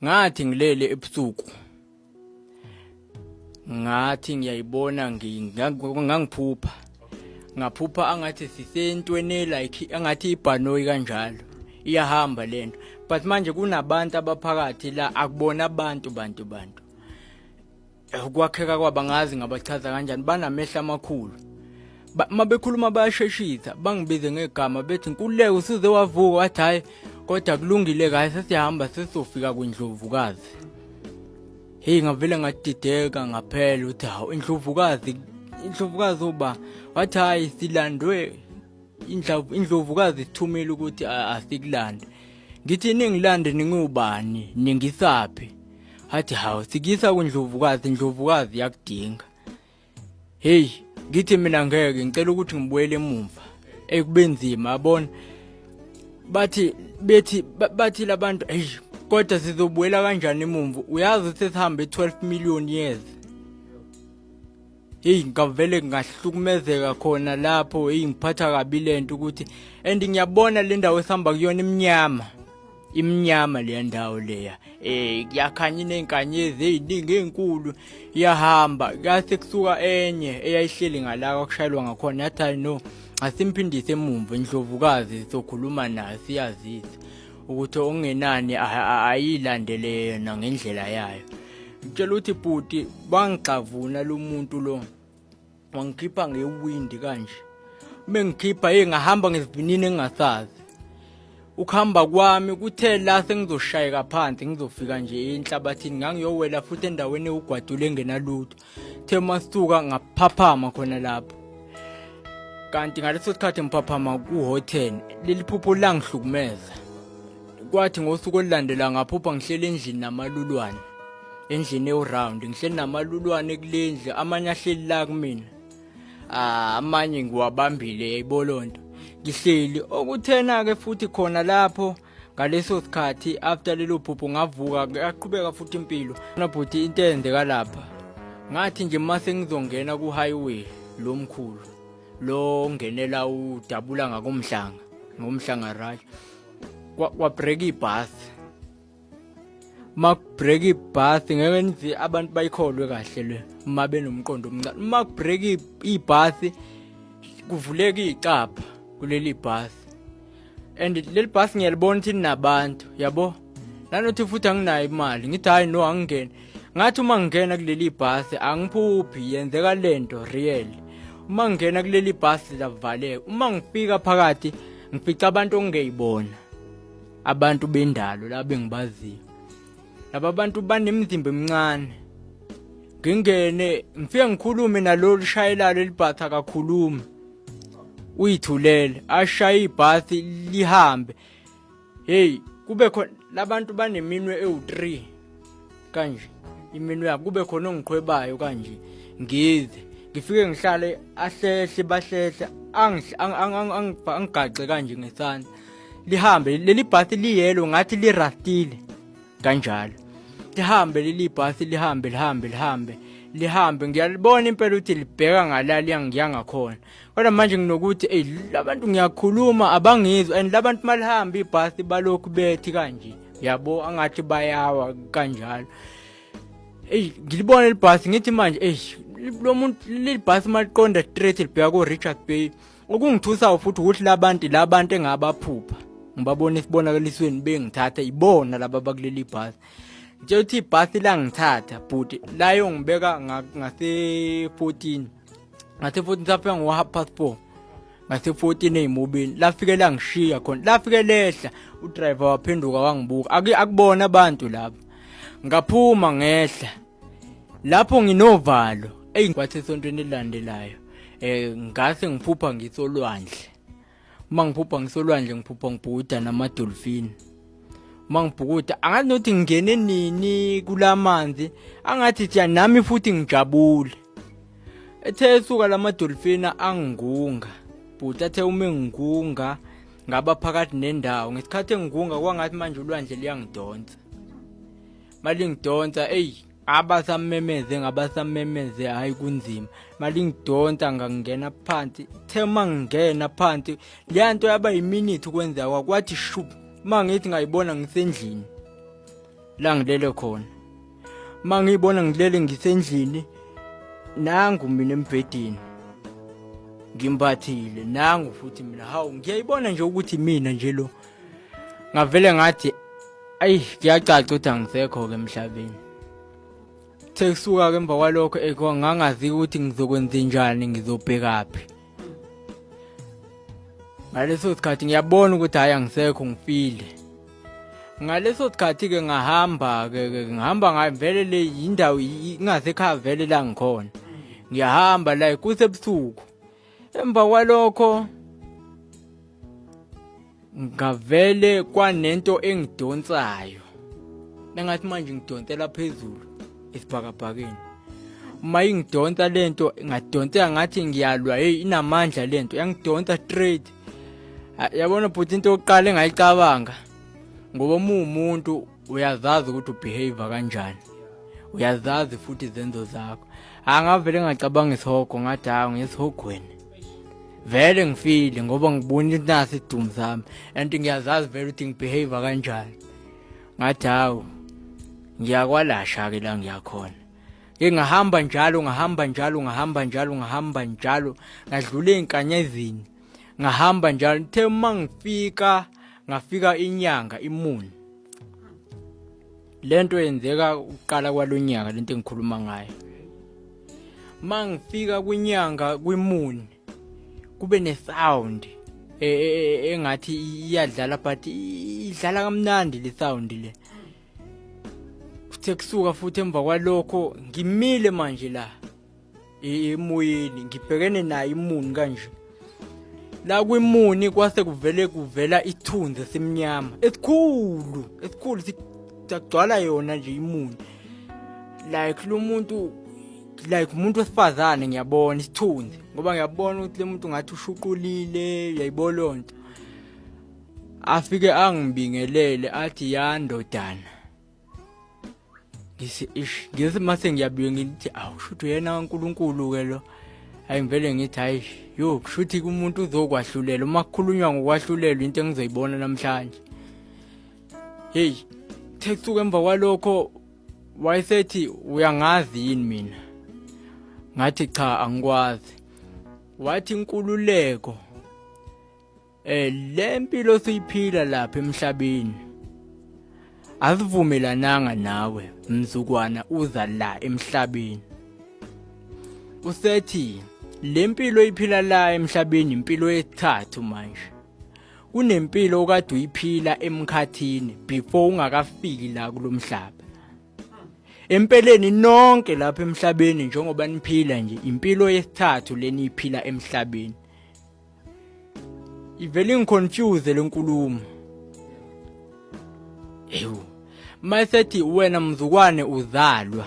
ngathi ngilele ebusuku ngathi ngiyayibona ngangiphupha ngaphupha angathi sisentweni like angathi ibhanoyi kanjalo iyahamba lento but manje kunabantu abaphakathi la akubona abantu bantu bantu Eh, ukwakheka kwabo angazi ngabachaza kanjani banamehla amakhulu uma bekhuluma bayasheshisa bangibize ngegama bethi nkululeko usuze wavuka wathi hhayi kodwa kulungile kahle sesiyahamba sesizofika kwindlovukazi heyi ngavele ngadideka ngaphela ukuthi hawu indlovukazi indlovukazi uba wathi hhayi silandwe indlovukazi sithumile ukuthi asikulande ngithi ningilande ningiwubani ningisaphi athi hawu sikisa kundlovukazi ndlovukazi yakudinga heyi ngithi mina ngeke ngicela ukuthi ngibuyele emumva ekubenzima abona bathi bethi bathi labantu hey kodwa sizobuyela kanjani emumva uyazi ukuthi sihambe 12 million years heyi ngavele ngahlukumezeka khona lapho heyi ngiphatha kabi le nto ukuthi and ngiyabona le ndawo esihamba kuyona imnyama imnyama leya ndawo leya eh kuyakhanya inenkanyezi eziningi ezinkulu iyahamba kase kusuka enye eyayihleli ngala kwakushayelwa ngakhona yathi hayi no asimphindise emumva indlovukazi sokhuluma nayo siyazisa ukuthi okungenani ayilandele yena ngendlela yayo ngitshela ukuthi bhuti bangigxavuna lo muntu lo wangikhipha ngewindi kanje uma ngikhipha ye ngahamba ngesivinini engingasazi ukuhamba kwami kuthe la sengizoshayeka phansi ngizofika nje enhlabathini ngangiyowela futhi endaweni ewugwadule engenalutho the masuka ngaphaphama khona lapho kanti ngaleso sikhathi ngiphaphama ku-hotel leli phupho langihlukumeza kwathi ngosuku olulandela ngaphupha ngihleli endlini namalulwane endlini ewuround ngihleli namalulwane kulendlu amanye ahleli la kumina ah, amanye ngiwabambile yayibolonto ngihleli okuthena ke futhi khona lapho ngaleso sikhathi after lelo phupho ngavuka yaqhubeka futhi impilo na bhuti into eyenzeka lapha ngathi nje uma sengizongena ku-highway lo mkhulu lo ngenela udabula ngakomhlanga ngomhlanga right kwabreak ibus makubreak ibus ngeke ngithi abantu bayikholwe kahle le uma benomqondo omncane makubreak ibus kuvuleka icapha kuleli bus and leli bus ngiyalibona ukuthi linabantu yabo nanothi futhi anginayo imali ngithi hayi no angingeni ngathi uma ngingena kuleli bus angiphuphi yenzeka lento real uma ngingena kuleli bus lavaleka uma ngifika phakathi ngifica abantu ongeyibona abantu bendalo labe ngibaziyo laba bantu banemizimba emincane ngingene ngifike ngikhulume nalolu shayelalo elibhatha kakhuluma uyithulele ashaye ibhathi lihambe hey kube khona labantu baneminwe ewu-3 kanje iminwe yakhe kube khona ongiqhwebayo kanje ngidle ngifike ngihlale ahlehle bahlehle angigaxe kanje ngesandla lihambe leli bhasi liyelo ngathi lirastile kanjalo lihambe leli bhasi lihambe lihambe lihambe lihambe ngiyalibona impela ukuthi libheka ngala liyangiya ngakhona kodwa manje nginokuthi eyi labantu ngiyakhuluma abangizwa and labantu malihamba ibhasi balokhu bethi kanje yabo angathi bayawa kanjalo eyi ngilibona libhasi ngithi manje eyi lo muntu leli bhasi maliqonda straight libheka ko-richard bay okungithusayo futhi ukuthi labantu labantu engabaphupha ngibabona esibonakalisweni bengithatha ibona laba bakuleli bhasi nje uthi ibhasi langithatha bhuti layo ngibeka ngase-14 ngathi futhi mhlawumbe ngiwaha past four ngathi futhi ineyimobini lafike langishiya khona lafike lehla udriver waphenduka wangibuka akubona abantu laba ngaphuma ngehla lapho nginovalo eyi kwathi esontweni elilandelayo um ngase ngiphupha ngisolwandle uma ngiphupha ngisolwandle ngiphupha ngibhukuda namadolfini uma ngibhukuda angathi nokuthi ngingene nini kula manzi angathi thiya nami futhi ngijabule ethe esuka la madolfini angingunga bhuti athe uma engingunga ngaba phakathi nendawo ngesikhathi engingunga kwangathi manje ulwandle liyangidonsa malingidonsa eyi abasamemeze ngabasamemeze hhayi kunzima mali ngidonsa ngangena phansi the uma ngingena phansi leya nto yaba yiminithi ukwenzeka kwakwathi shup uma ngithi ngayibona ngisendlini la ngilele khona uma ngiyibona ngilele ngisendlini nangu mina embhedeni ngimbathile nangu futhi mina hawu ngiyayibona nje ukuthi mina nje lo ngavele ngathi ayi kuyacaca ukuthi angisekho-ke emhlabeni sekusuka-ke emva kwalokho eh, ngangazi ukuthi ngizokwenza njani ngizobhekaphi ngaleso sikhathi ngiyabona ukuthi hhayi angisekho ngifile ngaleso sikhathi-ke ngahamba-ke ngihamba ngavele le yindawo ingasekhaya vele la ngikhona ngiyahamba la kusebusuku emva kwalokho ngavele kwanento engidonsayo nengathi manje ngidonsela phezulu esibhakabhakeni uma ingidonsa lento ngadonseka ngathi ngiyalwa hey inamandla lento yangidonsa straight yabona bhuti into yokuqala engayicabanga ngoba umumuntu uyazazi ukuthi ubehave kanjani uyazazi futhi izenzo zakho angavele ngacabanga isihogo ngathi hayi ngisihogweni vele ngifile ngoba ngibona ukuthi nasi idumu sami and ngiyazazi vele ukuthi ngibehave kanjani ngathi hawu ngiyakwalasha-ke la ngiyakhona ke ngahamba njalo ngahamba njalo ngahamba njalo ngahamba njalo ngadlula ey'nkanyezini ngahamba njalo ngithe uma ngifika ngafika inyanga imuni lento yenzeka uqala kwalonyaka lento engikhuluma ngayo mangifika kwinyanga kwimuni kube ne sound e, e, e, engathi iyadlala but idlala kamnandi le sound le kuthe kusuka futhi emva kwalokho ngimile manje la emoyeni ngibhekene naye imuni kanje la kwimuni kwase kuvele kuvela isithunzi esimnyama esikhulu esikhulu sagcwala yona nje imuni like lo muntu like umuntu wesifazane ngiyabona isithunzi ngoba ngiyabona ukuthi le muntu ngathi ushuqulile uyayibolonto afike angibingelele athi yandodana ngithi ish ngithi mase ngiyabuye ngithi awu kushuthi uyena kaNkulunkulu-ke lo hayi ngivele ngithi hayi yo kushuthi kumuntu uzokwahlulela uma kukhulunywa ngokwahlulelwa into engizoyibona namhlanje heyi thekuthuka emva kwalokho wayesethi uyangazi yini mina ngathi cha angikwazi wathi inkululeko eh le mpilo siyiphila lapha emhlabeni azivumelananga nawe mzukwana uza la emhlabeni usethi le mpilo iphila la emhlabeni impilo yesithathu manje kunempilo okade uyiphila emkhathini before ungakafiki la kulomhlaba empeleni nonke lapha emhlabeni njengoba niphila nje impilo yesithathu leniyiphila emhlabeni ivele ingiconfuse le nkulumo ewu mayisethi wena mzukwane uzalwa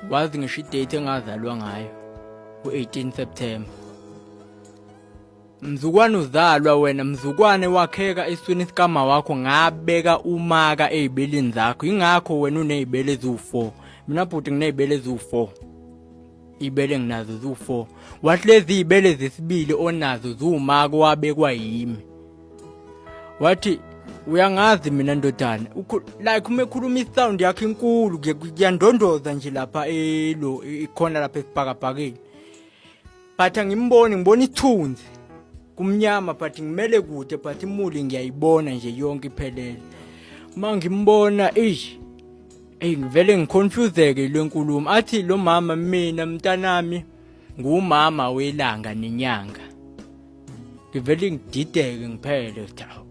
wazi ngisho idate engazalwa ngayo u-18 september mzukwane uzalwa wena mzukwane wakheka esweni sikama wakho ngabeka umaka ey'beleni zakho yingakho wena uney'bele eziwu-four mina bhuti nginey'bele eziwu-four ibele nginazo ziwu-four wathi lezi iy'bele zesibili onazo ziwumako wabekwa yimi wathi uyangazi mina ndodana like uma ekhuluma isound yakhe inkulu kuyandondoza nje lapha elo ikhona lapha esibhakabhakeni but angimboni ngibona ithunzi kumnyama but ngimele kude but imuli ngiyayibona nje yonke iphelele uma ngimbona eish Eyi ngivele ngiconfuseke le nkulumo athi lo mama mina mntanami ngumama welanga nenyanga ngivele ngidideke ngiphele ukuthi awu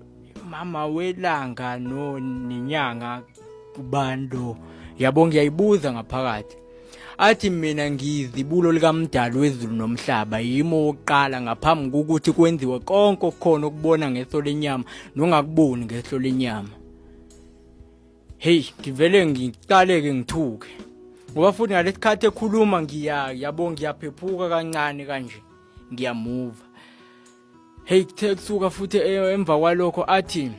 mama welanga no nenyanga kubani lo yabo ngiyayibuza ngaphakathi athi mina ngiyizibulo likamdali wezulu nomhlaba yimo wokuqala ngaphambi kokuthi kwenziwe konke okukhona okubona ngeso lenyama nongakuboni ngeso lenyama Hey ngivele ngiqaleke ngithuke. Ngoba futhi ngalesikhathi ekhuluma ngiya yabo ngiyaphephuka kancane kanje. Ngiyamuva. Hey kuthe kusuka futhi e, emva kwalokho athi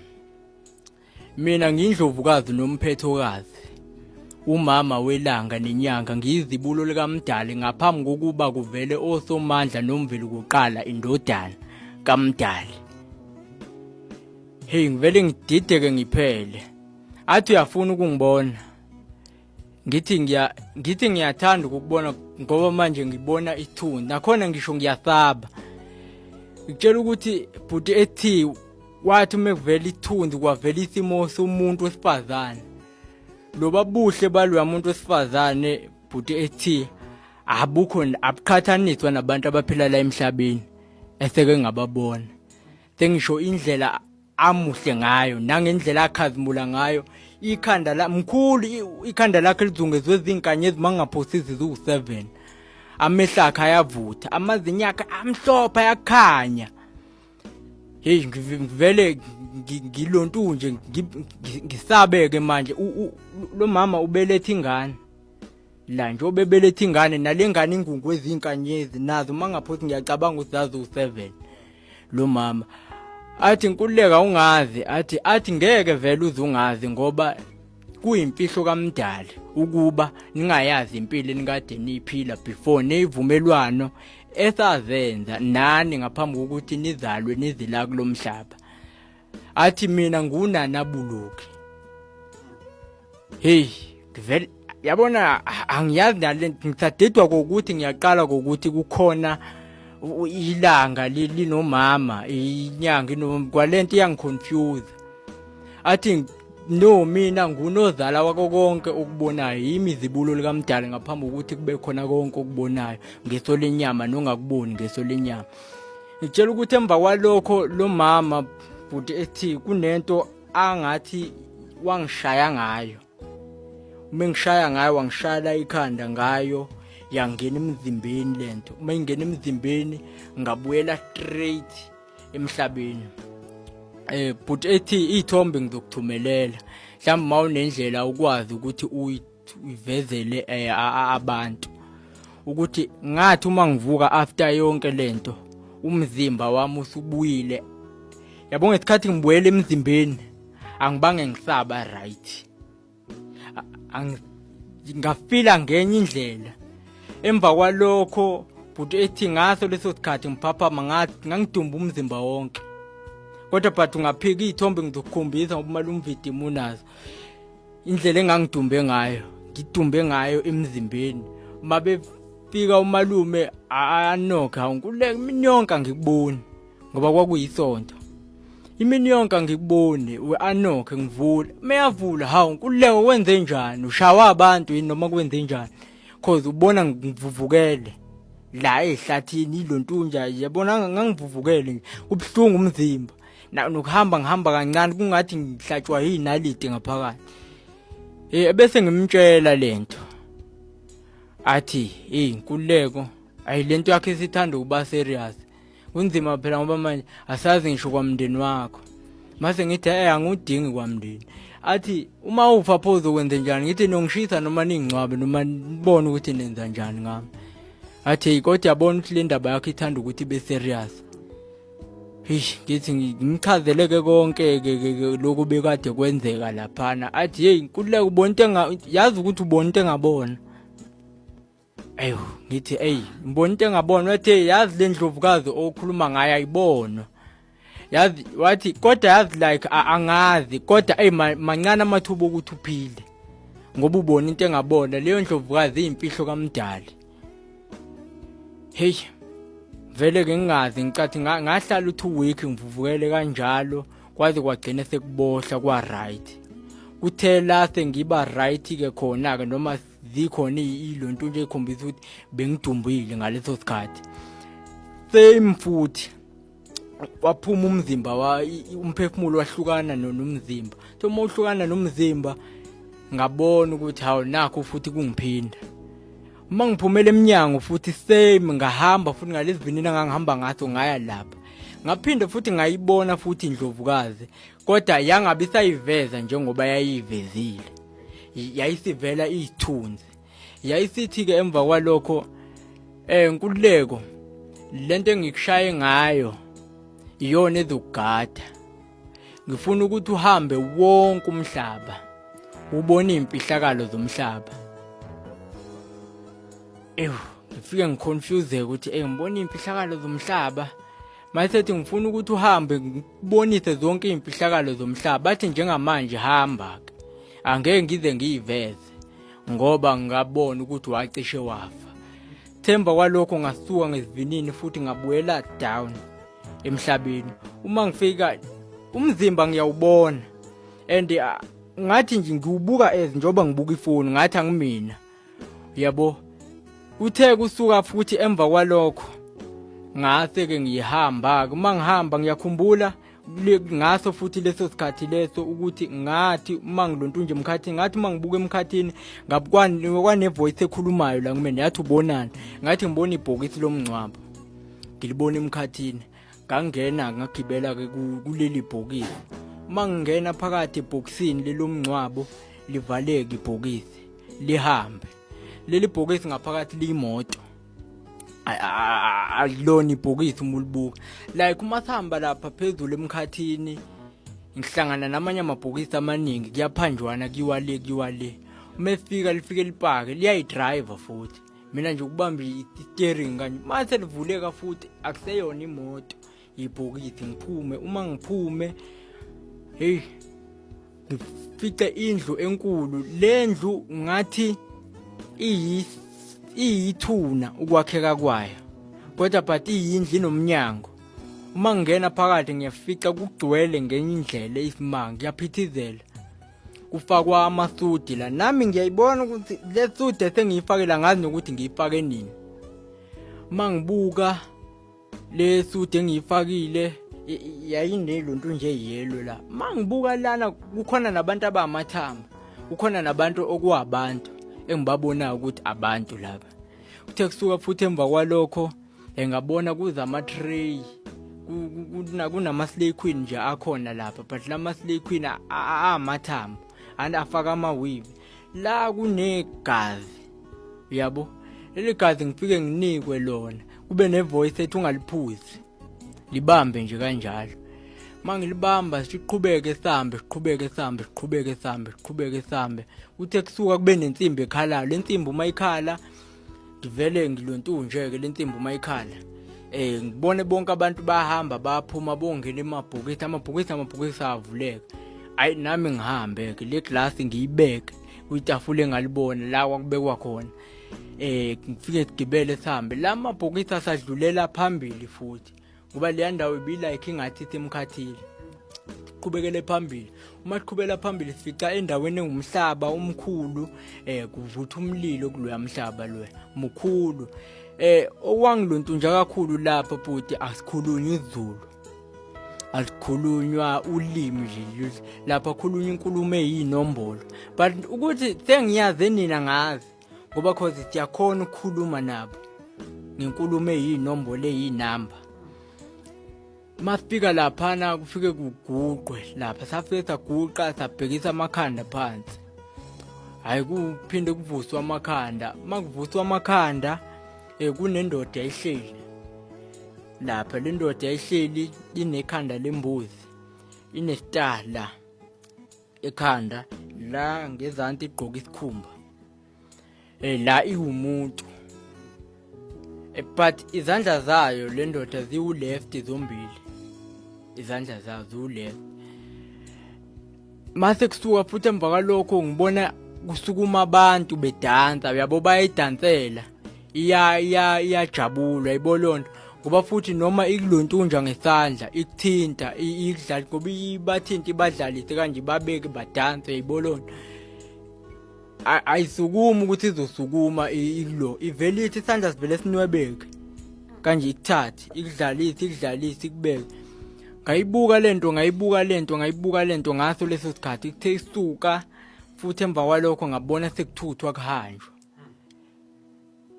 mina ngindlovukazi nomphethokazi. Umama welanga nenyanga ngiyizibulo likamdali ngaphambi kokuba kuvele osomandla nomveli kuqala indodana kamdali. Hey ngivele ngidideke ngiphele. Athi uyafuna ukungibona. Ngithi ngiya ngithi ngiyathanda ukukubona ngoba manje ngibona ithuni. Nakhona ngisho ngiyasaba. Ngitshela ukuthi bhuti ethi wathi uma kuvela ithunzi kwavela isimo somuntu wesifazane loba buhle baloya muntu wesifazane bhuti ethi abukho abuqhathaniswa nabantu abaphila la emhlabeni eseke ngababona Tengisho indlela amuhle ngayo nangendlela akhazimula ngayo ikhanda la mkhulu ikhanda lakhe lizungezwe izinkanye ezimangaphosisi ziwu-7 amehlo akhe ayavutha amazinyo akhe amhlophe ayakhanya heyi ngivele ngilontu nje ngisabeke manje lo mama ubeletha ingane la nje obebeletha ingane nale ngane ingungu ezinkanyezi nazo uma ngaphothi ngiyacabanga ukuthi zazi u-seven lo mama athi nkululeka ungazi athi athi ngeke vele uze ungazi ngoba kuyimfihlo kamdali ukuba ningayazi impilo enikade niyiphila before neyivumelwano esazenza nani ngaphambi kokuthi nizalwe nizila kulomhlaba athi mina ngunana buluki hey ngivele yabona angiyazi nale ngithadidwa kokuthi ngiyaqala kokuthi kukhona ilanga linomama inyanga kwalento iyangiconfuse athi no mina ngunozala wako konke okubonayo yimi izibulo likamdali ngaphambi kokuthi kube khona konke okubonayo ngeso lenyama nongakuboni ngeso lenyama ngitshela ukuthi emva kwalokho lo mama bhuti ethi kunento angathi wangishaya ngayo uma ngishaya ngayo wangishayela ikhanda ngayo yangena emzimbeni lento uma ingena emzimbeni ngabuyela straight emhlabeni eh bhuti ethi iy'thombe ngizokuthumelela mhlawumbe uma unendlela ukwazi ukuthi uyi ivezele eh, abantu ukuthi ngathi uma ngivuka after yonke lento umzimba wami usubuyile yabo ngesikhathi ngibuyele emzimbeni angibange ngisaba right ngafila ngenye indlela emva kwalokho bhuti ethi ngaso leso sikhathi ngiphaphama ngathi ngangidumba umzimba wonke kodwa but ungaphika iy'thombe ngizokukhombisa ngoba umali umvidimu unazo indlela engangidumbe ngayo ngidumbe ngayo emzimbeni uma befika umalume anokha nkuleka imini yonke angikuboni ngoba kwakuyisonto imini yonke angikuboni we-anokhe ngivula meyavula hawu nkululeko wenze njani ushawa abantu yini noma kwenze njani cause ubona ngivuvukele la ehlathini ilontunja yabona ngangivuvukele kubuhlungu umzimba Na- nokuhamba ngihamba kancane kungathi ngihlatshwa yinaliti ngaphakathi Eh, ebese ngimtshela lento athi hey inkululeko ayi lento yakhe isithanda ukuba serious kunzima phela ngoba manje asazi ngisho kwamndeni wakho mase ngithi eh angudingi kwamndeni athi uma ufa pho uzokwenza njani ngithi nongishisa noma ningcwabe noma nibone ukuthi nenza njani ngami athi hey kodwa yabona ukuthi le ndaba yakho ithanda ukuthi ibe serious Eish ngithi ngimchazele ke konke ke lokhu bekade kwenzeka laphana athi hey nkululeka ubona into enga yazi ukuthi ubona into engabona ayo ngithi hey ngibona into engabona wathi hey yazi le ndlovukazi okhuluma ngayo ayibona yazi wathi kodwa yazi like angazi kodwa hey mancane amathuba okuthi uphile ngoba ubona into engabona leyo ndlovukazi iyimfihlo kamdali hey vele ke ngingazi ngicathi ngahlala u2 week ngivuvukele kanjalo kwaze kwagcina sekubohla kwa right kuthe la sengiba right ke khona ke noma zikhona ilonto nje ikhombisa ukuthi bengidumbile ngaleso sikhathi same futhi waphuma umzimba wa umphefumulo wahlukana nomzimba so uma uhlukana nomzimba ngabona ukuthi hawu nakho futhi kungiphinda uma ngiphumela emnyango futhi same ngahamba futhi ngalezivinini ngangihamba ngaso ngaya lapha ngaphinde futhi ngayibona futhi indlovukazi kodwa yangabi sayiveza njengoba yayivezile yayisivela izithunzi yayisithi-ke emva kwalokho um nkululeko le nto engikushaye ngayo iyona ezokugada ngifuna ukuthi uhambe wonke umhlaba ubone iy'mfihlakalo zomhlaba ewu ngifike ngiconfuseke ukuthi eyi ngibona iy'mfihlakalo zomhlaba mayisethi ngifuna ukuthi uhambe ngibonise zonke iy'mfihlakalo zomhlaba bathi njengamanje hamba-ke angeke ngize ngiyiveze ngoba ngabona ukuthi wacishe wafa themba kwalokho ngasuka ngesivinini futhi ngabuyela down emhlabeni uma ngifika umzimba ngiyawubona and ah, ngathi nje ngiwubuka as njengoba ngibuka ifoni ngathi angimina yabo uthe kusuka futhi emva kwalokho ngase ke ngihamba uma ngihamba ngiyakhumbula ngaso futhi leso sikhathi leso ukuthi ngathi uma ngilontu nje emkhathini ngathi uma ngibuka emkhathini kwanevoice ekhulumayo la kumina yathi ubonani ngathi ngibona ibhokisi lomngcwabo ngilibona emkhathini ngangena ngagibela kuleli bhokisi uma ngingena phakathi ebhokisini lelomngcwabo livaleke ibhokisi lihambe leli bhokisi ngaphakathi liyimoto alilona ibhokisi uma ulibuka like umathamba lapha phezulu emkhathini ngihlangana namanye amabhokisi amaningi kuyaphanjwana kuyiwa le kuyiwa le uma efika lifike lipake liyayidrayiva futhi mina nje ukubamba i-steering kanje mase livuleka futhi akuseyona imoto ibhokidi ngiphume uma ngiphume hey ngifice indlu enkulu lendlu ngathi iyi iyithuna ukwakheka kwayo kodwa but iyindlu inomnyango uma ngingena phakathi ngiyafica kugcwele ngenye indlela isimanga kuyaphithizela kufakwa amasudi la nami ngiyayibona ukuthi le sudi esengiyifakela ngazi nokuthi ngiyifake nini uma ngibuka le suit engiyifakile y- y- yayinelo nto nje yellow la ma ngibuka lana kukhona nabantu abamathamba kukhona nabantu okuwabantu engibabonayo ukuthi abantu laba kuthe kusuka futhi emva kwalokho eh, ngabona kuza ama-tray ku- ku- kuna- kunama-slay queen nje akhona lapha but lama-slay queen a- a- a- amathambo and afaka ama-weave la kunegazi uyabo leli gazi ngifike nginikwe lona kube nevoice ethi ungaliphuzi libambe nje kanjalo mangilibamba siqhubeke sambe siqhubeke sambe siqhubeke sambe siqhubeke sambe uthe kusuka kube nensimbi ekhalayo lensimbi uma ikhala ngivele ngilontunje ke lensimbi uma ikhala eh ngibone bonke abantu bahamba baphuma bongena emabhokisi amabhokisi amabhokisi avuleka ayi nami ngihambe ke le glass ngiyibeke kwitafula engalibona la kwakubekwa khona eh ngifike sigibele sihambe la mabhokisi asadlulela phambili futhi ngoba leya ndawo ibilike ingathi isimkhathile siqhubekele phambili uma siqhubela phambili sifica endaweni engumhlaba umkhulu eh kuvutha umlilo kuloya mhlaba loya mkhulu eh owangilontunja kakhulu lapha bhuti asikhulunywa izulu alikhulunywa ulimi nje lapha khulunywa inkulumo eyinombolo but ukuthi sengiyazi nina ngazi ngoba cause siyakhona ukukhuluma nabo ngenkulumo eyinombolo eyinamba masifika laphana kufike kuguqwe lapha safike saguqa sabhekisa amakhanda phansi hayi kuphinde kuvuswa amakhanda makuvuswa amakhanda eh kunendoda ehleli lapha le ndoda ehleli inekhanda lembuzi inesitala ekhanda la ngezansi igqoka isikhumba eh la iwumuntu eh, but izandla zayo le ndoda ziwu left zombili izandla zayo ziwu left mase kusuka futhi emva kwalokho ngibona kusukuma abantu bedansa uyabo bayidansela iya iya iyajabula yabo lonto ngoba futhi noma ikulontunja ngesandla ikuthinta ikudlali ngoba ibathinta ibadlalise kanje babeke badanse yabo lonto ayisukumi ukuthi izosukuma ilo ivele ithi isandla sivele sinwebeke kanje ikuthathe ikudlalise ikudlalise ikubeke ngayibuka lento ngayibuka lento ngayibuka lento ngaso leso sikhathi kuthe isuka futhi emva kwalokho ngabona sekuthuthwa kuhanjwa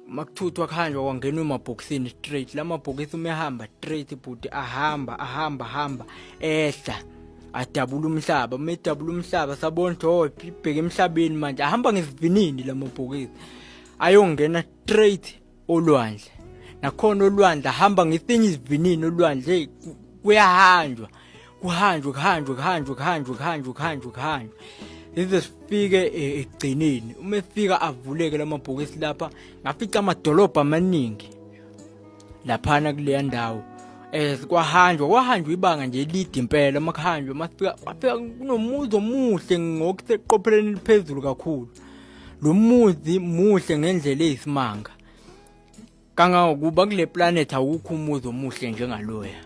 makuthuthwa kuhanjwa kwangenwa emabhokisini straight la mabhokisi uma ehamba straight bhuti ahamba ahamba hamba ehla adabula umhlaba uma edabula umhlaba sabona ukuthi oh ibheke emhlabeni manje ahamba ngesivinini la mabhokisi ayongena straight olwandle nakhona olwandle ahamba ngesinye isivinini olwandle kuyahanjwa kuhanjwe kuhanjwe kuhanjwe kuhanjwe kuhanjwe kuhanjwe kuhanjwe lize sifike eh, ekugcineni uma efika avuleke lamabhokisi lapha ngafica amadolobha amaningi laphana kuleya ndawo eh kwahanjwa kwahanjwa ibanga nje elide impela uma kuhanjwa masifika wafika kunomuzi omuhle ngokuseqopheleni eliphezulu kakhulu lo muzi muhle ngendlela eyisimanga kangangokuba kule planet awukho umuzi omuhle njengaloya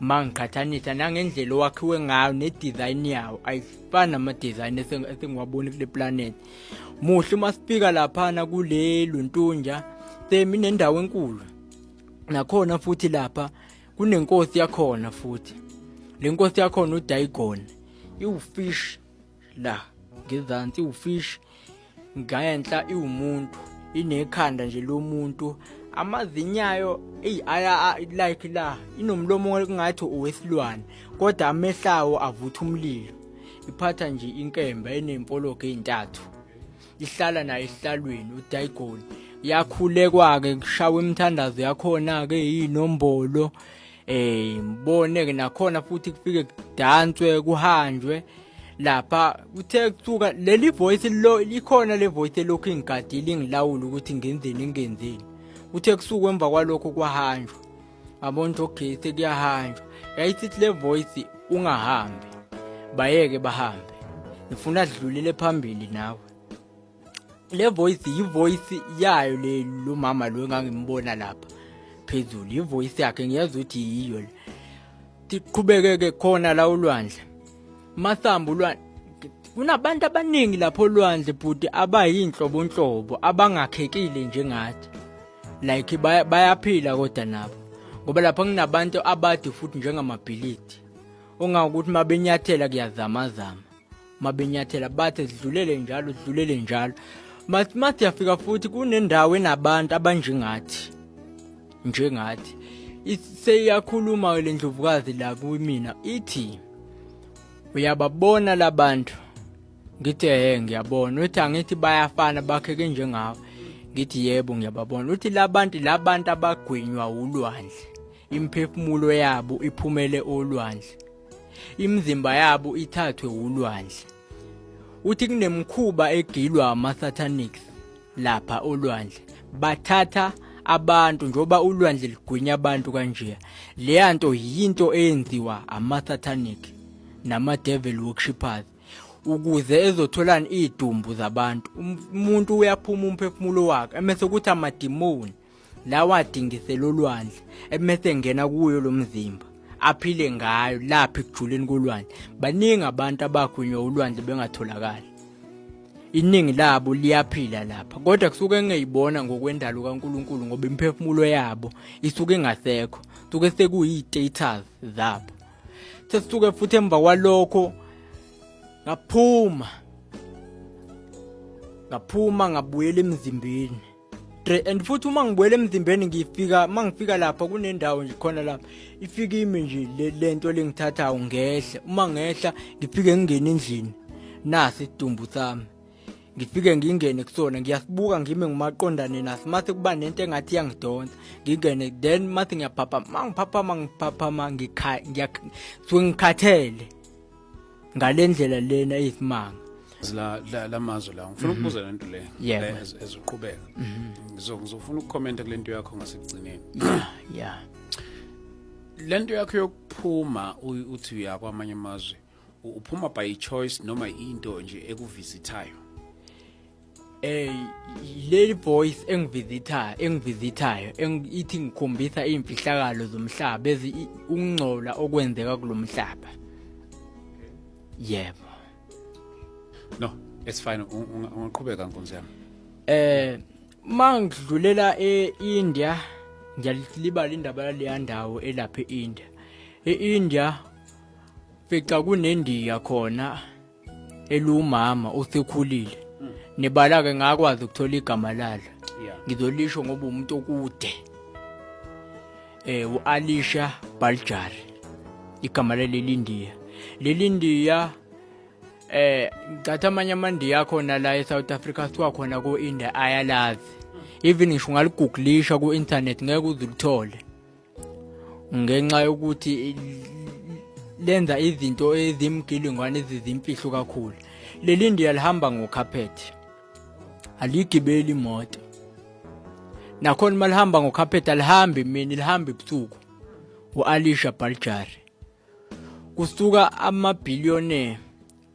ma ngiqhathanisa nangendlela owakhiwe ngayo ne-design yawo ayifani nama-design esengiwaboni kule planet muhle uma sifika laphana kule luntunja semi nendawo enkulu nakhona futhi lapha kunenkosi yakhona futhi le nkosi yakhona udayigona iwufish la ngezansi iwufish ngayenhla iwumuntu inekhanda nje lomuntu amazinyayo eyi aya like la inomlomo kungathi owesilwane kodwa amehlawo avutha umlilo iphatha nje inkemba enempologo ezintathu ihlala naye esihlalweni udaigoni yakhulekwa-ke kushawa imithandazo yakhona-ke yinombolo eh ngibone ke nakhona futhi kufike kudanswe kuhanjwe lapha kuthe kusuka leli voice lo likhona le voice lokhu ingigadile ingilawula ukuthi ngenzeni ngenzeni kuthe kusuka emva kwalokho kwahanjwa abona ukuthi okay sekuyahanjwa yayisithi le voice ungahambi bayeke bahambe ngifuna sidlulele phambili nawe le voice yivoice yayo le lo mama lo engangimbona lapha phezulu yivoice yakhe ngiyazi ukuthi yiyo le siqhubekeke khona la ulwandle masambu lwandle kunabantu abaningi lapho olwandle bhuti abayinhlobonhlobo abangakhekile njengathi like bayaphila kodwa nabo ngoba lapha kunabantu abade futhi njengamabhilidi ongakuthi mabenyathela kuyazamazama mabenyathela bathe zidlulele njalo zidlulele njalo mathi yafika futhi kunendawo enabantu abanjengathi njengathi seyakhuluma le ndlovukazi la kumina ithi uyababona labantu ngithi ehe ngiyabona uthi angithi bayafana bakheke njengawe ngithi yebo ngiyababona uthi labantu labantu abagwinywa ulwandle imphefumulo yabo iphumele olwandle imizimba yabo ithathwe wulwandle uthi kunemkhuba egilwa ama-satanics lapha olwandle bathatha abantu njengoba ulwandle ligwinya abantu kanje leya nto yinto eyenziwa ama-satanic nama-devil worshipers ukuze ezotholani idumbu zabantu umuntu uyaphuma umphefumulo wakhe emese ukuthi amadimoni lawa adingisela olwandle ebese ngena kuyo lo mzimba aphile ngayo lapha ekujuleni kolwandle baningi abantu abagwinywa ulwandle bengatholakali iningi labo liyaphila lapha kodwa kusuke ngeyibona ngokwendalo kaNkuluNkulu ngoba imphefumulo yabo isuke ingasekho suke sekuyi-status zabo sesisuke futhi emva kwalokho ngaphuma ngaphuma ngabuyela emzimbeni and futhi uma ngibuyela emzimbeni ngifika uma ngifika lapha kunendawo nje khona lapha ifika imi nje le nto lengithathayo ngehla uma ngehla ngifike ngingene endlini nasi isidumbu sami ngifike ngingene kusona ngiyasibuka ngime ngumaqondane naso mase kuba nento engathi iyangidonsa ngingene then mase ngiyaphaphama mangiphaphama ngiphaphama ngikha ngiyakha ngikhathele ngalendlela lena isimanga la la lamazwi la ngifuna ukubuza mhm. lento le Yeah. ezoqhubeka mhm. ngizo ngizofuna ukucomment kulento yakho ngasekugcineni yeah lento yakho yokuphuma u- uthi uya kwamanye amazwe u- uphuma by choice noma into nje ekuvisithayo Eh leli voice engivisithayo engivisithayo ithi ngikhombisa imfihlakalo zomhlaba ezi ukungcola okwenzeka kulomhlaba. Yebo. No, it's fine ungaqhubeka nkonzo yami. Eh mangidlulela eIndia ngiyalibala indaba yaleya ndawo elapha eIndia. EIndia fica kunendiya khona eliwumama osekhulile hmm. nebala ke ngakwazi ukuthola igama lalo ngizolisho ngoba umuntu okude eh uAlisha Baljar igama leli Ndiya leli Ndiya eh ngicatha amanye amandiya khona la eSouth Africa siwa khona ku India ayalazi even ngisho ngaliguglisha ku internet ngeke uzulithole ngenxa yokuthi lenza izinto ezimgilingwane ezizimfihlo kakhulu leli ndiya lihamba ngokhaphethi aligibeli imoto nakhona uma lihamba ngokhaphethi alihambi mina lihambe ebusuku u-alisha baljari kusuka amabhiliyone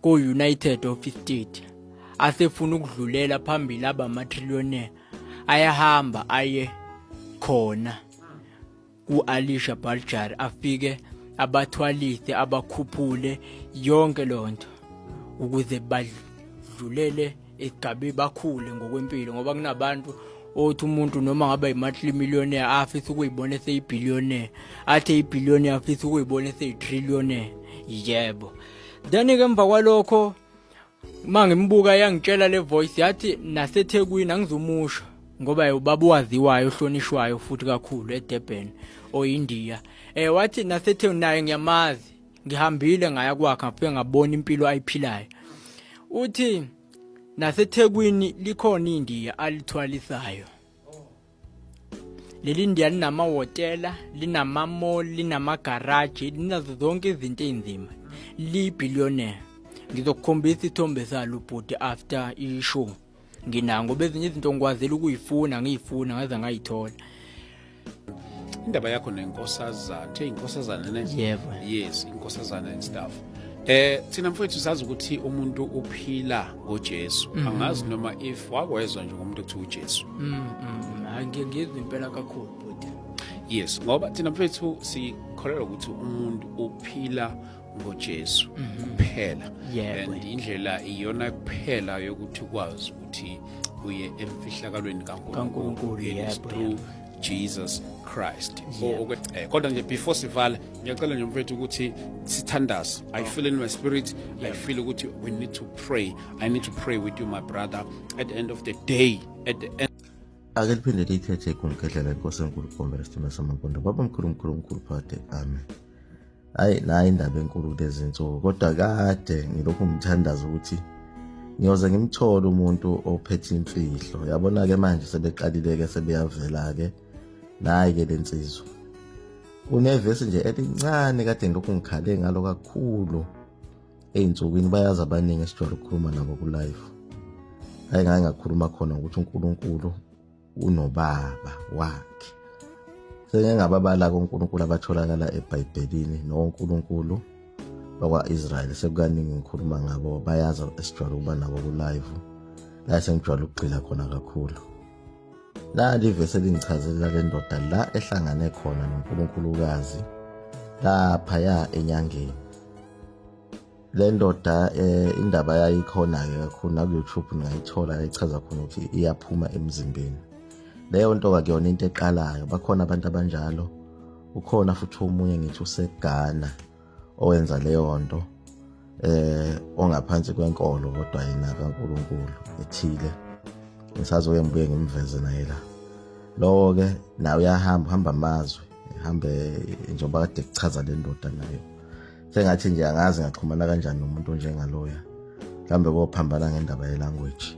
ko-united of state asefuna ukudlulela phambili aba matrillione ayahamba aye khona ku-alisha baljar afike abathwalise abakhuphule yonke loo nto ukuze badlulele igabe bakhule ngokwempilo ngoba kunabantu othi umuntu noma ngaba yi-monthly millionaire afisa ukuyibona eseyibillionaire athi eyibillionaire afisa ukuyibona eseyi-trillionaire yebo then-ke emva kwalokho uma ngimbuka yangitshela le voice yathi nasethekwini angizomusha ngoba ubaba owaziwayo ohlonishwayo futhi kakhulu edurban oyindiya um eh, wathi nasethekwini naye ngiyamazi ngihambile ngaya kwakhe ngafike ngabona impilo ayiphilayo uthi nasethekwini likhona indiya alithwalisayo leli ndiya linamahhotela linamamall linamagaraji linazo zonke izinto ey'nzima liyibillionaire ngizokukhombisa isithombe salo bhuti after ishow nginako ngoba ezinye izinto ngikwazile ukuyifuna ngiyifuna ngaze ngayithola indaba yakho nenkosazana kuthiwa inkosazana ne yebo yes inkosazana and stuff eh thina mfowethu sazi ukuthi umuntu uphila ngoJesu mm. angazi noma if wakwezwa nje ngomuntu ekuthiwa uJesu mm, mm, angiyizwa impela kakhulu bhuti yes ngoba thina mfowethu sikholelwa ukuthi umuntu uphila ngoJesu mhm. kuphela and indlela iyona kuphela yokuthi ukwazi ukuthi uye emfihlakalweni kaNkulunkulu yes through Jesus Christ eh, kodwa nje before sivala ngiyacela nje mfethu ukuthi sithandaze i oh. feel in my spirit i feel ukuthi we need to pray i need to pray with you my brother at the end of the day at the end ake liphinde liyithethe kumgedlela inkosi enkulu kubombela isithume samankondo babamkhulu mkhulu mkhulu phakade amen hayi nayi indaba enkulu kulezi nsuku kodwa kade ngilokhu ngithandaza ukuthi ngiyoze ngimthole umuntu ophethe imfihlo yabona-ke manje sebeqalile-ke sebeyavela-ke nayi-ke le nsizwa kunevesi nje elincane kade ngilokhu ngikhale ngalo kakhulu ey'nsukwini bayazi abaningi esijwayele ukukhuluma nabo kulife hayi ngaye ngakhuluma khona ukuthi unkulunkulu unobaba wakhe sengengababala konkulunkulu abatholakala ebhayibhelini nonkulunkulu bakwa-israyeli sekukaningi ngikhuluma ngabo bayazi esijwayele ukuba nabo kulive la sengijwayele ukugxila khona kakhulu nali ivesi elingichazelela le ndoda la ehlangane khona nonkulunkulukazi laphaya enyangeni le ndoda eh, indaba yayo ikhona-ke kakhulu naku-youtube ningayithola echaza khona ukuthi iyaphuma emzimbeni leyo nto kakuyona into eqalayo bakhona abantu abanjalo ukhona futhi omunye ngithi usegana owenza leyo nto eh ongaphansi kwenkolo kodwa yena kaNkuluNkulu ethile ngisazoke ngibuye ngimveze naye la lowo ke nawe uyahamba uhamba amazwe ehambe njengoba kade kuchaza le ndoda nayo sengathi nje angazi ngaxhumana kanjani nomuntu onjengaloya mhlawumbe kophambana ngendaba yelanguage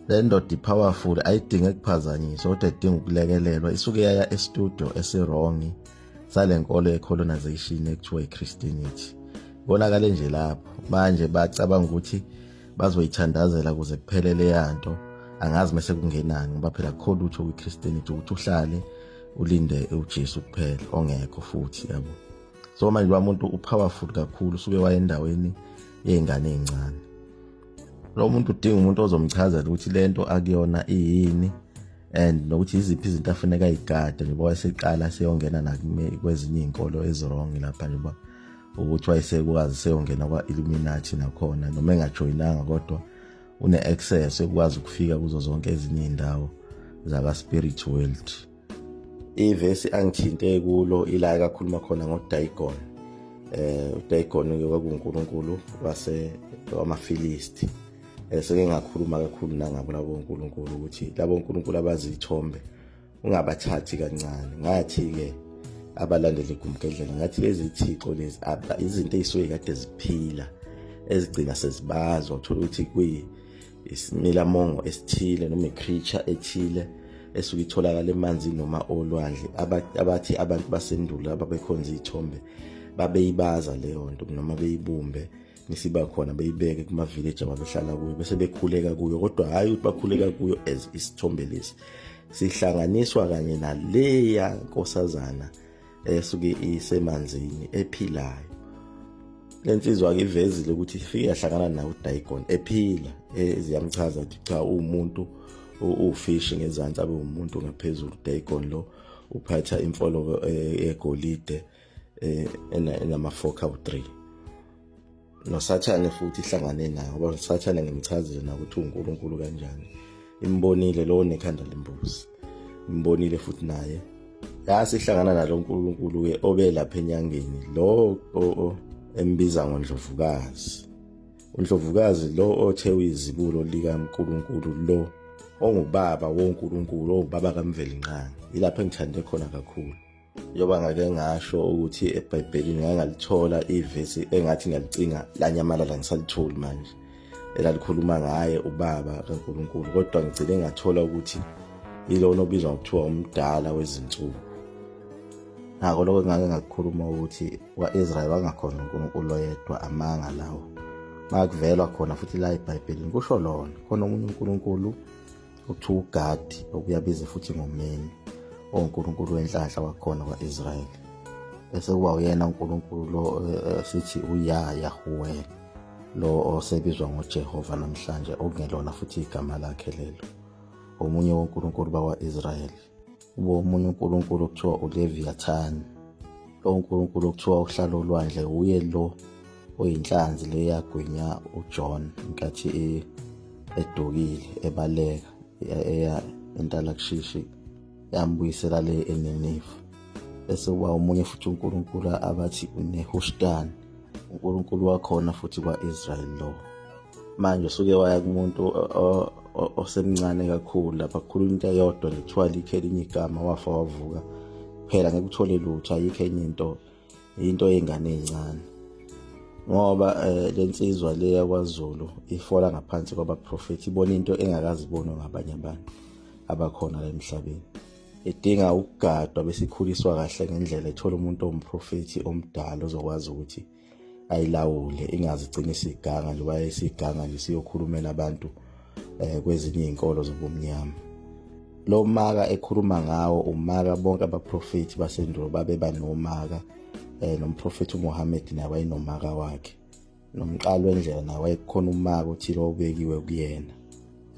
le ndoda i-powerful ayidinge kuphazanyiswa kodwa idinga ukulekelelwa isuke yaya estudio esirongi sale nkolo ye-colonization ekuthiwa i-christianity konakale nje lapho manje bacabanga ukuthi bazoyithandazela kuze kuphele leya nto angazi mese kungenani ngoba phela kukho lutho kwi-christianity ukuthi uhlale ulinde ujesu kuphela ongekho futhi yabo so manje ba muntu upowerful kakhulu suke wayendaweni yezingane ezincane lo muntu udinga umuntu ozomchazela ukuthi lento akuyona iyini and nokuthi iziphi izinto afuneka igade njengoba wayeseqala seyongena nakwezinye iy'nkolo ezirong lapha njengoba ukuthi wayesekwazi seyongena kwa-illuminati nakhona noma engajoyinanga kodwa une-access ekwazi ukufika kuzo zonke ezinye iy'ndawo zaka-spirit world ivesi angithinte kulo ila ekakhuluma khona ngodagon eh udagon ke kwakunkulunkulu wase wamafilisti eh, seke ngakhuluma kakhulu nangabo labo nkulunkulu ukuthi labo nkulunkulu abazithombe ungabathathi kancane ngathi ke abalandeli igumgedlela ngathi lezi thixo lezi izinto ezisuke kade ziphila ezigcina sezibazwa uthola ukuthi kuyi isimilamongo esithile noma i-creature ethile esuke itholakala emanzini noma olwandle abathi abantu basendulo ababekhonza iy'thombe babeyibaza leyo nto noma beyibumbe nisiba khona beyibeke kuma-village ababehlala kuyo bese bekhuleka kuyo kodwa hhayi ukuthi bakhuleka kuyo as isithombe lesi sihlanganiswa kanye naleya nkosazana esuke isemanzini ephilayo lensizwa ke ivezile ukuthi ifike yahlangana nawo uDagon ephila eziyamchaza ukuthi cha uwumuntu ufish ngezansi abe umuntu ngaphezulu uDagon lo uphatha imfolo eh, yegolide eh, enama 4 kawu 3 nosathane futhi ihlangane naye ngoba usathane ngimchazile nakuthi unkulunkulu kanjani imbonile lowo nekhanda lembuzi imbonile futhi naye yasihlangana nalo nkulunkulu ke obe lapha enyangeni lo embiza ngondlovukazi undlovukazi lo othe uyizibulo likankulunkulu lo ongubaba wonkulunkulu ongubaba kamvelinqangi yilapho engithande khona kakhulu njengoba ngake ngasho ukuthi ebhayibhelini ngake ngalithola ivesi engathi ngiyalicinga lanyamalala ngisalitholi manje elalikhuluma ngaye ubaba kankulunkulu kodwa ngigcine ngathola ukuthi yilona obizwa ngokuthiwa umdala wezinsuku ngako lokho ngake ngakukhuluma ukuthi kwa-israyeli wangakhona unkulunkulu oyedwa amanga lawo makuvelwa khona futhi la ebhayibhelini kusho lona khona omunye unkulunkulu Uthi uGadi okuyabiza futhi ngomeni onkulunkulu wenhlanhla wakhona kwa-Israyeli bese kuba uyena uNkulunkulu lo eh, sithi uya Yahweh lo osebizwa ngoJehova namhlanje okungelona futhi igama lakhe lelo omunye wonkulunkulu bakwa-Israyeli Ubo omunye uNkulunkulu okuthiwa uLeviathan. Lo uNkulunkulu okuthiwa uhlala olwandle uye lo oyinhlanzi le yagwinya uJohn nkathi e, edukile ebaleka eya entalakushishi yambuyisela le eNiniva. Bese kuba omunye futhi uNkulunkulu abathi uNehushtan, uNkulunkulu wakhona futhi kwa-Israyeli lowo. manje usuke waya kumuntu osemncane kakhulu lapha kukhuluma into eyodwa nje kuthiwa likho elinye igama wafa wavuka phela ngeke uthole lutho ayikho enye into into yengane ezincane ngoba eh, lensizwa le yakwaZulu ifola ngaphansi kwabaprofethi ibona into engakazibonwa ngabanye abantu abakhona la emhlabeni idinga ukugadwa besikhuliswa kahle ngendlela ethola umuntu omprofethi omdala ozokwazi ukuthi ayilawule ingazi igcina isiganga njengoba yayisiganga nje siyokhulumela abantu eh, kwezinye izinkolo zobumnyama lo maka ekhuluma ngawo umaka bonke abaprofethi basendulo babeba nomaka eh, nomprofethi uMuhammad naye wayenomaka wakhe nomqalo wendlela naye wayekhona umaka othile obekiwe kuyena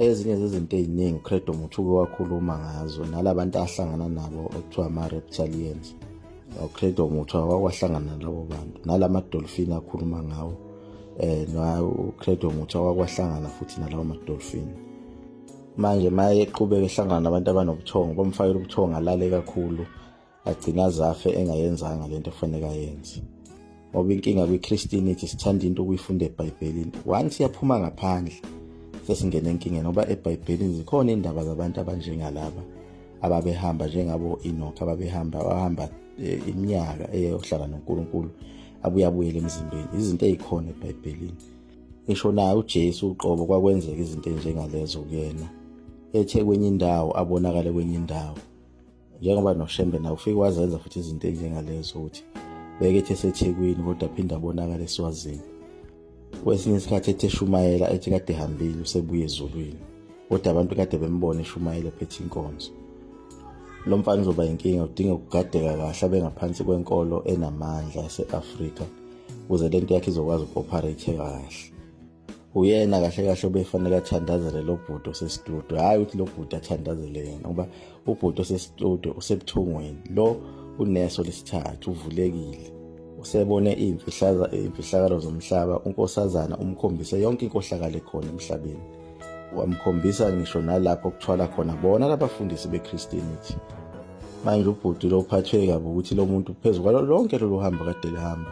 ezinye zezinto eziningi uCredo Muthuke wakhuluma ngazo nalabantu ahlangana nabo okuthiwa ama-reptalians uCredo Muthu awakwahlanganana labo bantu nalamadolfini akhuluma ngawo um uCredo Muthu awakwahlangana futhi nalawo madolfini manje maye eqhubeka ehlangana nabantu abanobuthongo bomfakela ubuthongo alale kakhulu agcina azafe engayenzanga lento efanele ayenze ngoba inkinga kwi-christianity sithanda into ukuyifunda ebhayibhelini once yaphuma ngaphandle sesingena enkingeni ngoba ebhayibhelini zikhona iy'ndaba zabantu abanjengalaba ababehamba njengabo-enoch ababehamba bahamba eh, iminyaka eyohlala nonkulunkulu abuye abuyele emzimbeni izinto ey'khona ebhayibhelini ngisho naye ujesu uqobo kwakwenzeka izinto ey'njengalezo kuyena ethe kwenye indawo abonakale kwenye indawo njengoba noshembe naye ufike wazenza futhi izinto ezinjengalezo ukuthi beke ethi esethekwini kodwa aphinde abonakala eswazini kwesinye isikhathi ethi eshumayela ethi kade ehambile usebuye ezulwini kodwa abantu kade bembona eshumayela ephethe inkonzo lo mfana uzoba yinkinga udinga ukugadeka kahle abe ngaphansi kwenkolo enamandla yase-afrika ukuze le nto yakhe izokwazi uku-operate kahle uyena kahle kahle obefanele athandazele lo bhuti osestudio hhayi ukuthi lo bhuti athandazele yena ngoba ubhuti osestudio usebuthongweni lo uneso lesithathu uvulekile usebone iy'mfihlakalo zomhlaba unkosazana umkhombise yonke inkohlakalo ekhona emhlabeni wamkhombisa ngisho nalapho kuthwala khona bona labafundisi bechristianity manje ubhuti lo uphathwe kabi ukuthi lo muntu phezu kwalo lonke lolu hambo kade lihamba